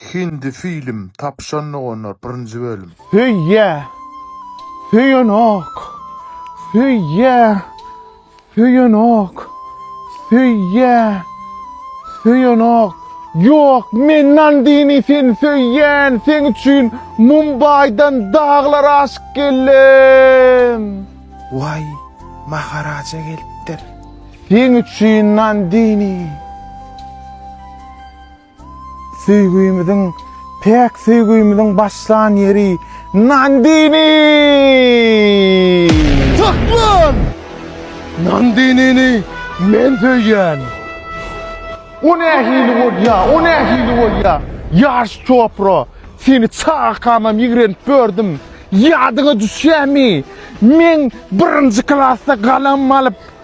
Hindi film tapşan doganlar birinji bölüm. Söýýä söýenok söýýä söýenok söýýä söýenok ýok men nandini seni söýýän seň üçin mumbaýdan daglar aşyp geldim. Waý maharaja gelipdir. Seň üçin nandini. Söýgümiziň, päk söýgümiziň başlan ýeri Nandini! Saklan! Nandinini men söýýän! O nähili bolýa, o nähili bolýa? Ýaş Çopra, seni çagakamam ýigrenip bördüm. Ýadyňa düşýämi? Men birinji klasda galam alyp,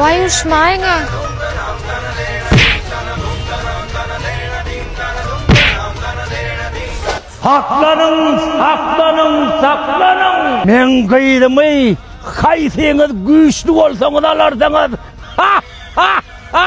Waý urşmaýyňa. Saklanyň saklanyň saklanyň. Meň gyzymy haýsyňyz güýçli bolsaňyz alarsyňyz ha ha ha.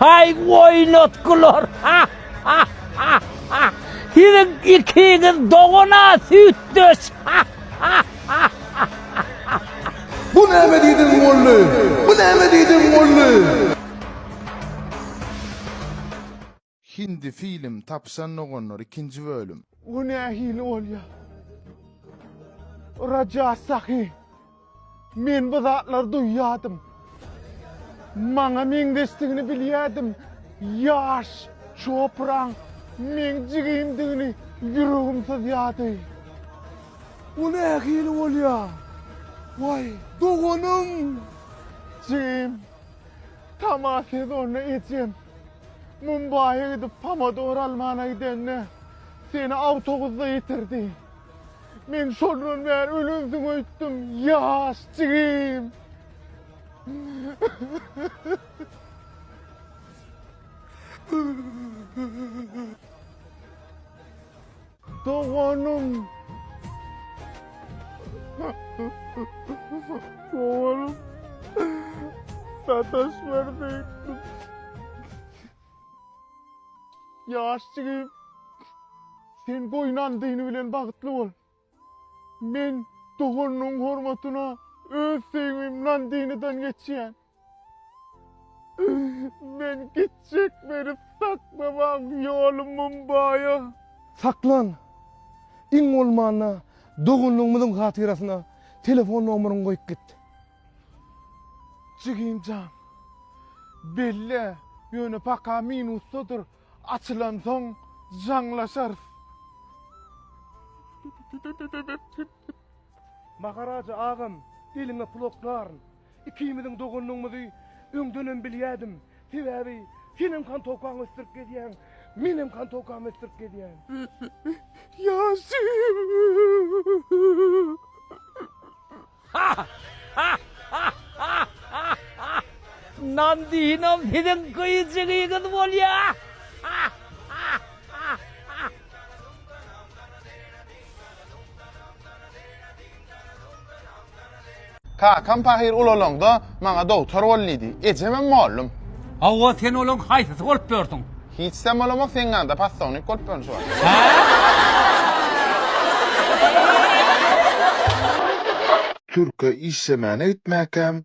Haý oýnatgylar! Siziň ikiňiz dogan-a, süýtdeş! Bu näme diýdiň, Molly? Bu näme diýdiň, Molly? Hindi film tapyşan doganlar ikinji bölüm. Bu nähili bolýa? Raja Sahi, men bu zatlary duýýadym. Maňa meňzeşdigini bilýädim. Ýaş Çopraň meň jigimdigini ýüregim syzýady. Bu nähili bolýa? Waý, doganym! Jigim, tama sezonda ejem. Mumbaýa gidip pomodor almana gidende seni awtobusda ýitirdi. Men şondan bäri ölensiň öýtdüm, ýaş jigim. Doganym. Doganym. Sataş berdi. Yaş jigim. Sen goynan dini bilen bagtly bol. Men dogannyň hormatyna öz söýgümden diniden geçýän. Men gitjek meni saklamaň ýolumym baýa. Saklan! Iň bolmanda doganlygymyzyň hatyrasyna telefon nomeryňy goýup git. Jigim jan. Belle, ýöne paka minusdadyr, açylansoň jaňlaşarys. Maharaja agam eliňe pul oklaryn. Ikimiziň doganlygymyzy öňdenem bilýädim. Sebäbi senem kantowkaňy ösdürip gezýäň, menem kantowkamy ösdürip gezýän. Ýaşy! Nan diýinim siziň gyýjygyňyz bolýa! Kakam pahyr ulalanda maňa dogtor bol diýdi. Ejemem mollum. Hawa, sen olaň haýsysy bolup ýörsüň? Hiçsem bolamok, seň ýanyňda possownik bolup ýörün şu wagt. Hä? Türke işlemäne gitmäkäm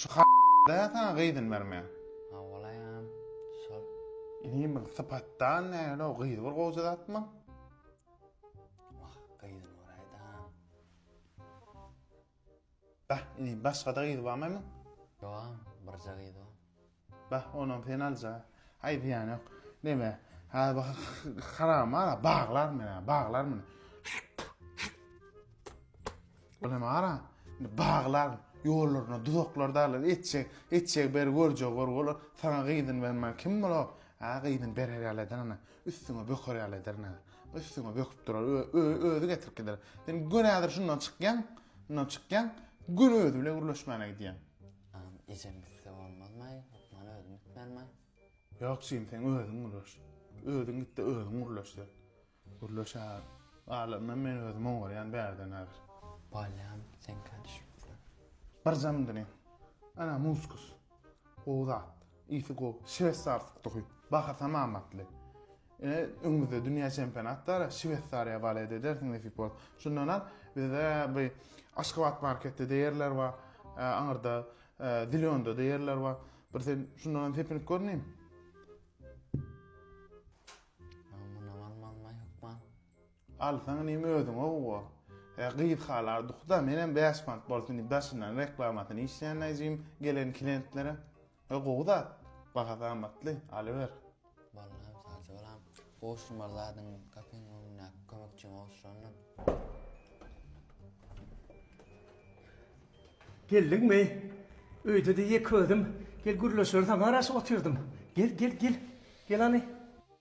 Şu dä saňa gyzyny bermän. Hawalaýan şol. Inim bir sypatdan näle o gyz bir goja zatmy? Wah gyzyny beraýdan. Bah inim başgada gyz barmy? Ýogam birje gyz bar. Bah, onam sen alja. Haý zyýan ýok. Neme, häzir bu haram mala baglar men, baglar men. Ol hem ara, indi baglar, ýollaryna duzaklar daglar, etjek, etjek ber görjek gör bolar. Saňa gyzyn bermän kim bolar? Ha, gyzyn berer ýaly eder ana. Üstüňe böker ýaly eder ana. Üstüňe böküp durar, özi getirip gider. Sen gün häzir şundan çykýaň, şundan çykýaň, gün özi bilen gürleşmäne gidýäň. Aman ejem gitse bolmazmaý, lukmana özüm gitmelimaý? Ýok jigim seň özüň gürleş. Özüň gitde özüň gürleş sen. Gürleş a. Galanynam men özüm oňarýan bärden häzir. Bolýam seňkä düşüpsiň. Birjam diňe. Ana muskus. Gowy zat. Isi gowy, şwesarskdyhy, bahasam amatly. Ine, öňümizde dünýä çempionat bar, Şwesariýa balet edersiň nesip bolsa. Şundan al, bizde bu Aşgabat marketde deýerler bar, aňyrda Zilionda deýerler bar. Bir sen şundan hem tepinip görneýin. Munam almalyma hökman. Alsaň inim özüňe gowa. He gyz halardyhda menem bäş mant bolsun diýip daşyndan reklamasyny işleýän näjigim gelen klientlere. He gowy zat. Bahasy amatly. Alyber. Ballam sagja balam. Gowşurmaly zadyň kafeň öňündäki kömekçiň gowşurandyr. Geldiňmi? Öýde-de ýeke özüm. Gel gürleşeris aňa garaşyp otyrdym. Gel, gel, gel. Gel hany.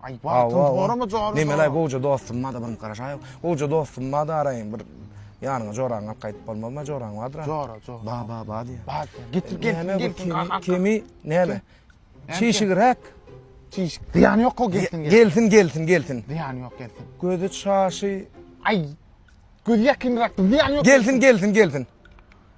Aý wagtyň zoramy joraly. Nemelaý gowja dostum bada bir garaşaýyň. Gowja dostum bada araýyň bir ýanyňa joraňy alyp gaýdyp bolmazma joraň bardyr. Jora jora. Ba ba ba diýýär. Ba diýýär. Getir gelsin gelsin kaka. Kemi näme? Çişigräk. Çiş. Zyýany ýok o gelsin gelsin. Gelsin gelsin gelsin. Zyýany ýok gelsin. Gözi çaşy. Aý. Gözi ýakynrak zyýany ýok. Gelsin gelsin gelsin.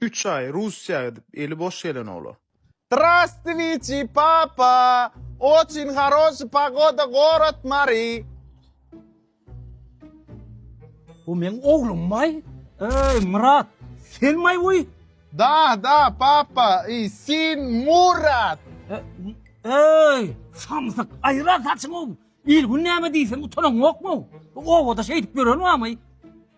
Üç aý Russiýa gidip eli boş gelen olar. Zdrastwiçi papa! Oçin haroşi pagoda gorod Mari. Bu meň oglum maý. Eý Myrat sen maý uý. Da da papa i sin Murat. Eý samsyk aýyra saçyňy il gün näme diýseň utanaňokmy bu obada şeýdip ýören bamy.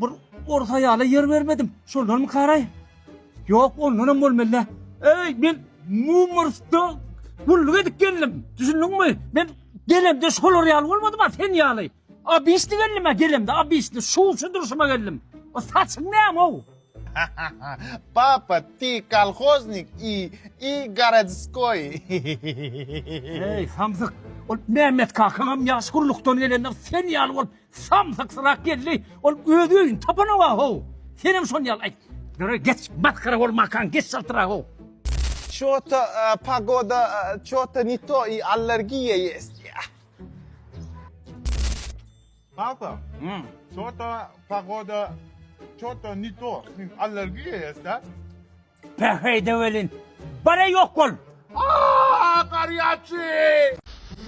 Bir orus aýala ýer bermedim. Şondanmy karaý? Ýok, ondanam bolmaly-dä. Eý, men Mumrusda gulluk edip geldim. Düşündiňmi? Men gelemde şolar ýaly bolmadym, a sen ýaly. Abisli geldim a gelemde, abisli. Şuwçy durşuma geldim. O saçyň näme-ow? Papa, ty kolhoznik i i gorodskoý. Eý, samsyk. Ol Mehmet kakaňam ýaş gullukdan gelende sen ýaly bolup, Samsyk syrak geldi, ol öz öýüni tapanok-a-how! Senem şony ýaly aýt. Ýöre, geç, masgara bolmakaň, geç çaltyrak-how! Ço-to pogoda ço-to ne to i allergiýa ýest. Kaka, ço-to pogoda ço-to ne to, allergiýa ýest-a. Päheýde welin, bar-a ýok bol! Aa, garýaçy!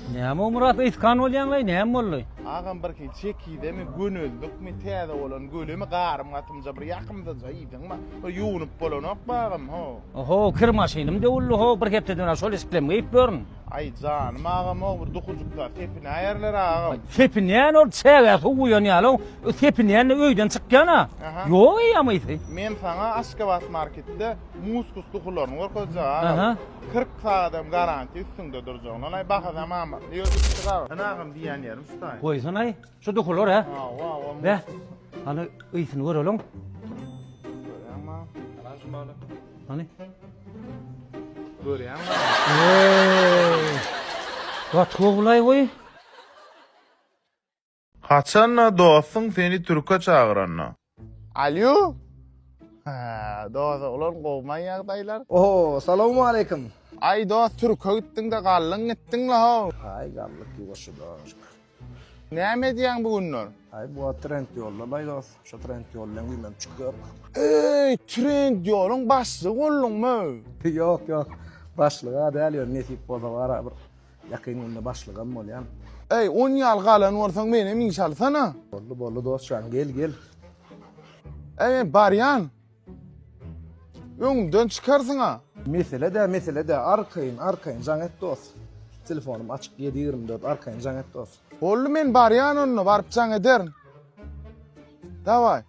Näme Myrat yskan bolýaňlaý näme boldy. Agam birki çekidemi göneldik-mi täze bolan gölemi garym gatymja bir ýakymdyja iýdiňmi bir ýuwunyp bolanokmy agam ho. Oho kir maşynym döwüldi ho bir hepdeden şol işiklem geýip ýörün. Aý janym agamog bir dukujyklar sepinäýerler agam. Sepinýän ol çägä suw guýan ýaly o sepinýände öýden çykýan a. Ýok eýýäm ysy. Men saňa Aşgabat marketde muskus dukularyny görkezjek agam. 40 sagadam garantiýa üstüňde durjak. Nolaý bahasam amatly ýördük çyk agam. Sen agam diýýän ýerim şu taýyn. Goýsanaý. Şu duhular he? Be. Hany ýysyny göreliň. Hany? Görýäň. Wat howlay goý. Haçanda dostuň seni türke çagyranda. Alýo! Hä, dos, oglan gowumaý ýagdaýlar? Oho, salawmaleýkim! Aý, dos, türke gitdiň-de galdyň gitdiň-le-how! Aý, galdyk ýuwaşja dost. Näme edýäň bu günler? Aý, bu wagt trend ýolda-laý dos. Şo trend ýol bilen güýmenip çykýarys. Eý, trend ýoluň başlygy bolduňmy? Ýok, ýok, başlyga däl, ýöne nesip bolsa bara bir Ýakyn günde başlygam bolýan. Eý, on ýal galan bolsaň menem iş alsana. Boldy, boldy dostjan, gel, gel. Eý, barýan. Öňümden çykarsyň-a. Mesele dä, mesele dä, arkaýyn, arkaýyn jaň et dos. Telefonym açyk ýedi ýigrimi dört, arkaýyn jaň et dos. Boldy, men barýan onda, baryp jaň ederin. Dawaý.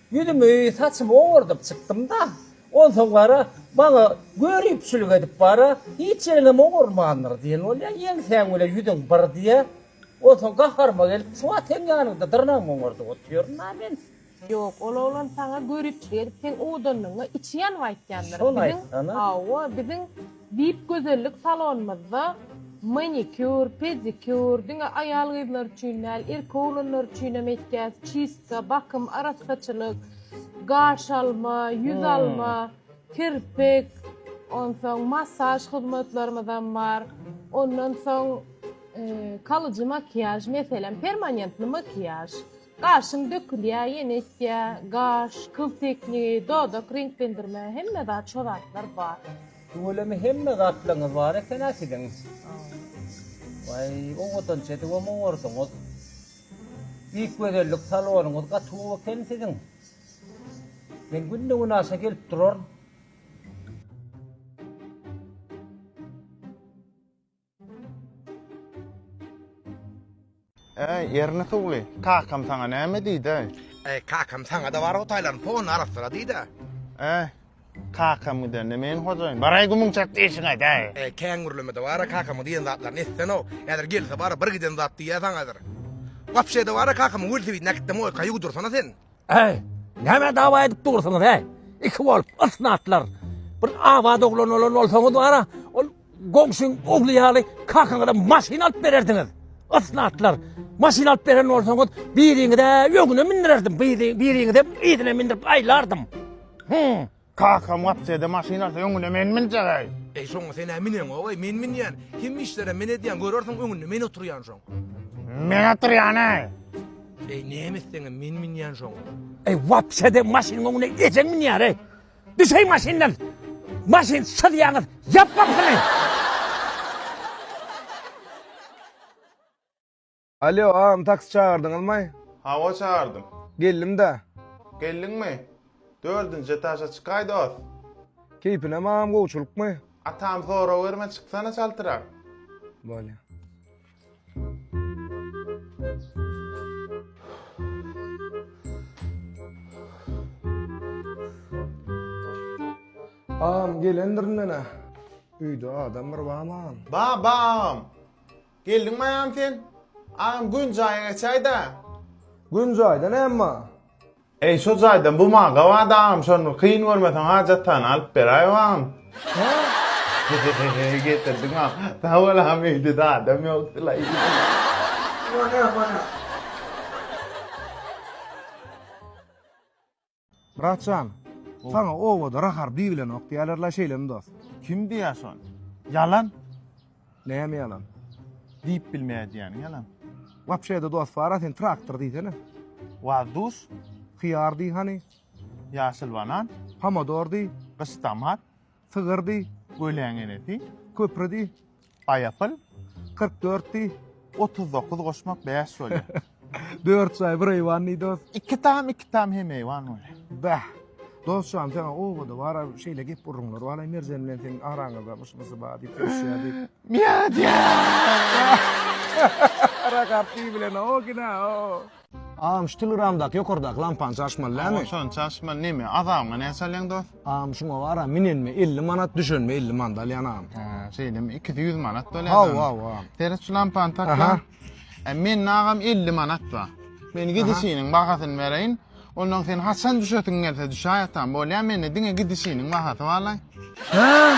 Ýüzümi, saçymy owardyp çykdym-da, onsoň wara, maňa göripçilik edip wara, Hiç ýeriňem owarmandyr diýen bolýa, ýeňsäň bile ýüzüň bir diýýä. Onsoň gaharyma gelip, şu wagt seň ýanyňda dyrnagymy oňardyp otyryn-a men. Ýok, ol oglan saňa göripçilik edip, seň owadanlygyňa içi ýanyp aýtýandyr. Şony aýtsana. Hawa, biziň Diýip gözellik salonymyzda manikýur, pedikýur, diňe aýal-gyzlar üçin däl, erkek-oglanlar üçinem etýäs, çistka, bakym, arassaçylyk, gaş alma, ýüz alma, kirpik, onsoň massaž hyzmatlarymyzam bar. Ondan soň kalyjy makiýaž, meselem, permanentni makiýaž. Gaşyň dökülýä ýene ösýä gaş kyl teknigi dodak reňklendirme hemme zat şo zatlar bar. Tüweleme hemme zatlaryňyz bar ekenä siziň. Waý owadanç edip hem owardyňyz. Beýik gözellik salonyňyz gaty gowy eken siziň. Men günde günaşa gelip duraryn. Äý, Erni suwly, kakam saňa näme diýdi-ä? Äý, kakam saňa-da bar hutaýlaryň ponyny arassyra diýdi-ä. Äý, kakam gidende men hojaýyn, baraý gumuň çatdy işiňe äý! Äý, kän gürleme-de, bara kakamyň diýen zatlaryny etsen-ow, häzir gelse bara bir giden zat diýýä saňa häzir. Wapşe-de bara kakamyň welosipedini äkitde moýkaýa udursana sen. Äý, nämä dawa edip dursuňyz-äý, iki bolup, ysnatlar. Bir abat oglan bolan bolsaňyz bara, ol. Goňşyň ogly ýaly kakaňyza maşyn alyp bererdiňiz. Yslatlar. Maşyn alyp beren bolsaňyz, biriňize öňüne mindirerdim, biriňize yzyna mindirip aýlardym. Hum. Kakam gapjada maşyn alsa öňüne men minjegäý. Eý, şoňa sen-ä mineňogaý, men minýän. Hemme işlerem men edýän, görersiň öňünde men oturýan şoň. Men oturýan-aý. Eý, näme etseňem men minýän şoň. Eý, wapşede maşynyň öňüne ejeň minýär-eý. Düşeý maşyndan. Maşyn syzýaňyz. Ýap gapyny. Alýo agam taksi çagyrdyňyzmaý? Hawa çagyrdym. Geldim-dä. Geldiňmi? Dördünji etaža çykaý dost. Keýpinem agam gowçylykmy? Atam sorawerme çyksana çaltyrak. Bolýa. Agam gelendir indene. Üýde adam bir baman. Babam! Geldiňmi agam sen? Agam gün jaýa geçäýdä. Gün jaýda näme bar? Eý şo jaýdan bu maňa gabat agam şony kyn görmeseň hajat taýyny alyp beräý agam. Hehehehe getirdiň agam sag bol agam öýdede adam ýokdulaý. Bana bana. Bratjan, saňa obada Rahar diýilenok diýýärler-la, şeýlemi dost? Kim diýýär şony? Ýalan. Näme ýalan? Diýip bilmeýädiýäň ýalan. Wapşe-de dost bar-a sen traktor diýsene. Waz duş. Hyýar diý hany. Ýaşyl banan. Pomodor diý. Gyş tomat. Sygyr diý. Göleň enesi. Köpri diý. Gaýapyl. Kyrk dört diý. Otuz dokuz goşmak bäş bolýar. Dört çaý bir eýwan diýdi dost. Iki tam iki tam hem eýwan bolýar. Bäh. Dostjan sen obada bara şeýle gep urunlar bala Merjen bilen seň araňyzda myşmysy bar diýip düşýär diýip. Miýa diýär. Ara garpy bilen o gina o. Agam şu telegramdaky ýokardaky lampany çaşmaly dämi? Agam şony çaşmaly neme azabyňa näçe alýaň dos? Agam şuňa bara minenme elli manat düşenme elli manat alýan agam. He şeýlemi ikisi ýüz manat bolýa. Haw haw agam. Seret şu lampany takýan. E mende agam elli manat bar. Men gidişiniň bahasyny bereýin. Ondan sen haçan düşesiň gelse düşäý atam bolýa mende diňe gidişiniň bahasy barlaý. He.